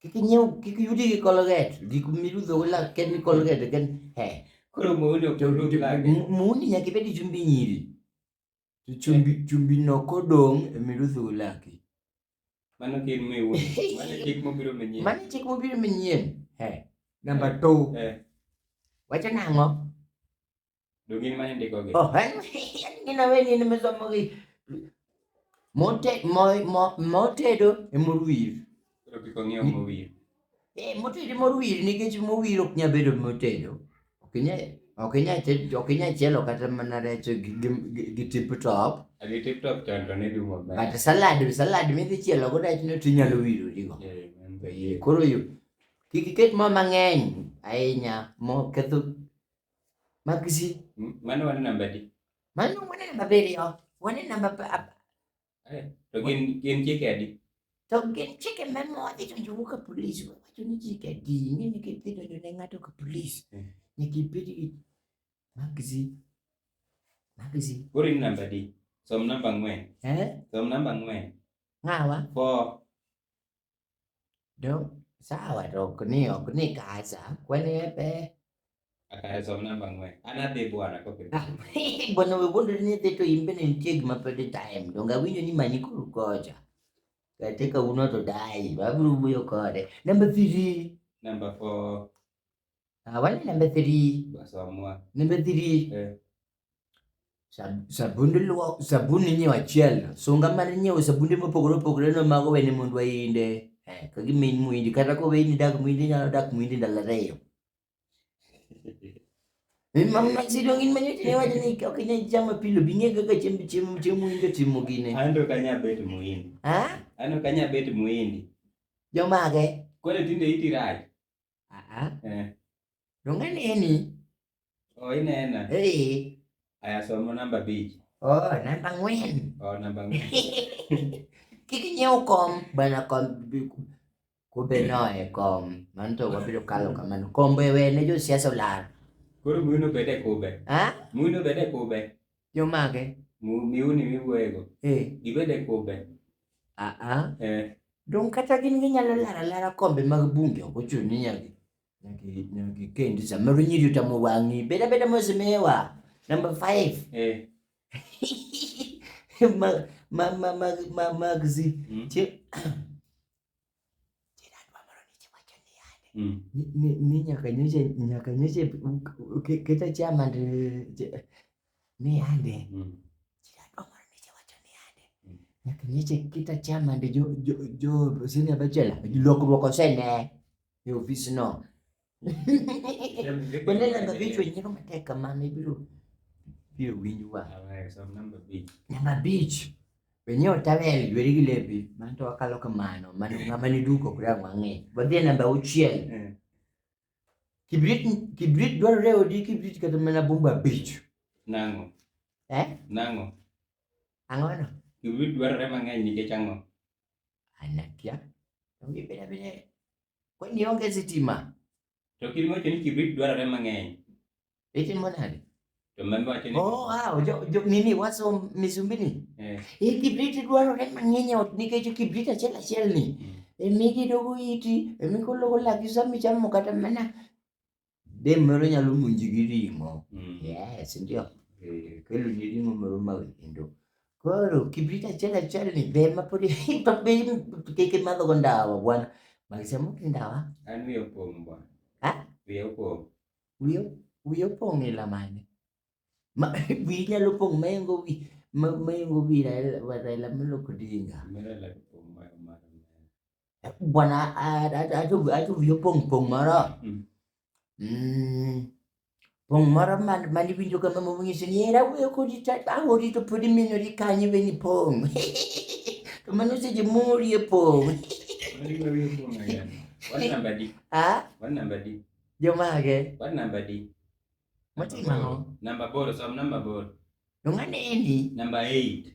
kik inyiew kik yudi gi colgate gik mirudho go lak ken colgate ken he Koro muuni ok to orud to- lage. mu- muuni nyaka ibed gi chumbi nyiri to chumbi chumbi no kodong emirudho go laki Mano kir miwu. Mano chik mobiro manyien. mano chik mobiro manyien he namba two Eh. wacho nang'o Do gin ma indiko gi. Oh, en in a way in mesomo gi mote mo mo motedo e mor wir. Koro kik ong'iew mowir. Eh, motedo e mor wir nikech mor wir ok nyal bedo motedo. Ok nyal ok nyal ted- ok nyal chielo kata mana rech gi, gi, gi, gi tip top. Agi tip top chon to ne dum maber. But salad salad midhi chielo go rech no tinyalo wiro digo. Eh, man be Eh, yie. Koro yo kik iket mo mang'eny ahinya mo ketho Magzi. Mane wane namba di? Mane wane namba abiriyo. Wane namba eh, to gin gin chike adi? To gin chike ma modhi to jogo ka polis wacho ni chike adi ni ni kidhi donjo ne ng'ato ka polis. Eh. Nyaka ibed gi magzi. Magzi. Koro in namba di? Som namba ang'wen. Eh? Som namba ang'wen. Ng'awa? Four. Ndio sawa roko ni ok ni kaza kwani ebe akaezo mnamba ngwe anadhi bwana kope ah, bwana we bondo ni dhi to imbe ni nitie gima pede time donga winyo ni manyi kuru kocha katika uno to dai baburu buyo kode number 3 number 4 ah wani number 3 basi amua number 3 eh Sabund luok, sabun inyiewo achiel, sunga mar nyiewo sabunde mopogore opogore no mago wene mond wainde. Eh, ka gimin muindi kata ko weini dak muindi nyalo dak muindi ndalo ariyo. Min mam na sidong in manyo tine wacho ni ok inyal chamo pilo bing'e kaka chiemb chiemo chiemo muindi timo gine. An to kanya bet muindi. Ha? An to kanya bet muindi. Jomage. Kore tinde iti rach. Aa. Eh. Donge neni? Oh, inena. Eh. Aya somo namba bich. Oh, namba ng'wen. Oh, namba ng'wen. Kik nyiew kom bana kom kumbe noe kom mano to wabiro kalo kamano kombe we ne josiasa olal koro muyuno bede kube ha muyuno bede kube jomage miuni miwuoyego eh. gibede kube Aa, Eh, dong kata gin ginyalo lara lara kombe mag bunge ok ochuno ni nyaka nyaka nyaka ikendi samoro nyiri otamo wang'i beda beda mosemiwa number five eh, mag mag mag mag magzi mm. Ti- Mm. ni nyaka nyoche nyaka nyoche keta chama ndi ni ande mm. mm. nyaka nyoche keta chama ndi jo jo jo sini abachela lokruok osene e ofis no Waneno namba abich wenyewe matek kamano ibiro biro winj wa. Namba abich wenyewe otawel jweri gi lepi mano to wakalo kamano mano ng'ama ni duko kure ang' wang'e. Wadhi e namba auchiel. Eh. Kibrit kibrit dwarore e odi kibrit kata mana bumbu abich. Nang'o? Eh? Nang'o? Ang'ono? Kibrit dwarore mang'eny nikech ang'o? Anakia. Onge beda beda. Kwa hiyo nionge sitima. To kilimo hicho ni kibrit dwarore mang'eny. Itimo nade? To mambe wacho ni Oh, ah, jo, jo nini waso misumbini? Eh. Hii kibrit dwarore mang'eny ot nikech kibrit achiel achiel ni. Mm. Emi gidogo iti, emi kologo laki sami chamo kata mana Dem moro nyalo monji gi ring'o. Mm. Yes, ndio. Eh, kelo ni ring'o moro ma wendo. Koro kibrit achiel achiel ni ber ma podi to be kik imadho go ndawa bwana. Magise mok ndawa. An wiyo pong' bwana. Ha? Wiyo pong'. Wiyo wiyo pong' ila mane. Ma wi nyalo pong' mayengo wi mayengo wi Raila Raila mloko dinga. Mera la pong' ma ma. bwana atuviyo pong' pong' moro mm. mm. pong' moro mane winjo kama mong'iso ni era wuoyo kodi ta awori to pod iminori kanyo iwe ni pong' to mano seche morie pong' jomage moting'o namba boro som namba boro to ng'ane endi namba eight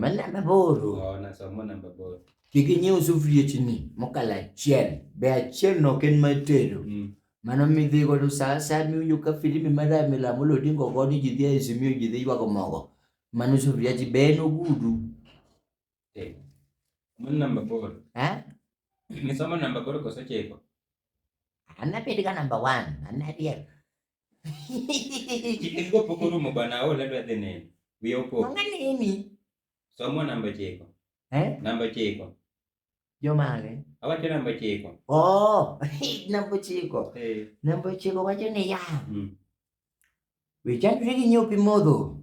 Malembe boro. Kik inyiew sufriechni mokalo achiel. Be achiel no ok en mar tedo. Mm. Mano midhi godo sa asaya miwinjo ka filimi mar Raila Amolo Odinga ogo ni ji dhi e Azimio ji dhi ywago mogo. Mano sufriechi be en ogudu. Eh, Mano namba boro. Eh? Nisomo namba boro koso chiko? An abed ga namba one. An ariek. Chikego pok orumo bwana aol adwa dhi neno. Wiya opok. Mama nini? Somo namba chiko. Eh? Namba chiko. Jomage? Awacho namba chiko. Oh, namba chiko. Eh. Namba chiko wacho ni ya. Hmm. Wichandri gi nyopi modho.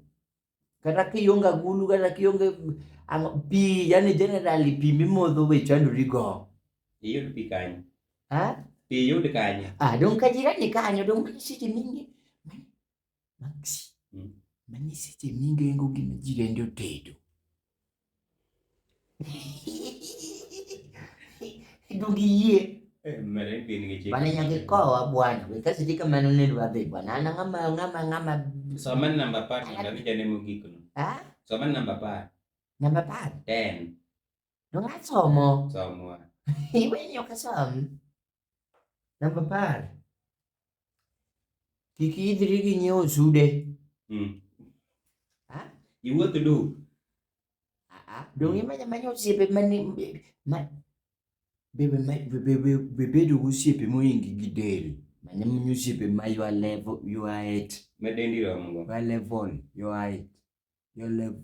kata kionge agulu kata kionge pi yani generally pi mimodho be chandori go iyud pi kanyo ha pi yud kanyo ah don ka jirani kanyo don ka seche mingi maxi hmm. mani seche mingi engo gima jirende otedo Dugie. Eh, bana nyakikowa bwana wekasitika manonelo babe bwana ana ngama ngama ngama soman namba par namba vijane mogik no ha soman namba par namba par ten no nga somo somo iwe nyoka som namba par Kik idhri gi nyiewo sude. Mm. Ha? Iwuoth du. Dong imanya manya osiepe mani bebedo gosiepe moingi gi del mane mnyo osiepe ma your level your height medendi romogo your level your height your level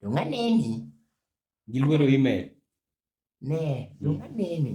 to ng'a neni? Gilwero email. Ne, to ng'a neni?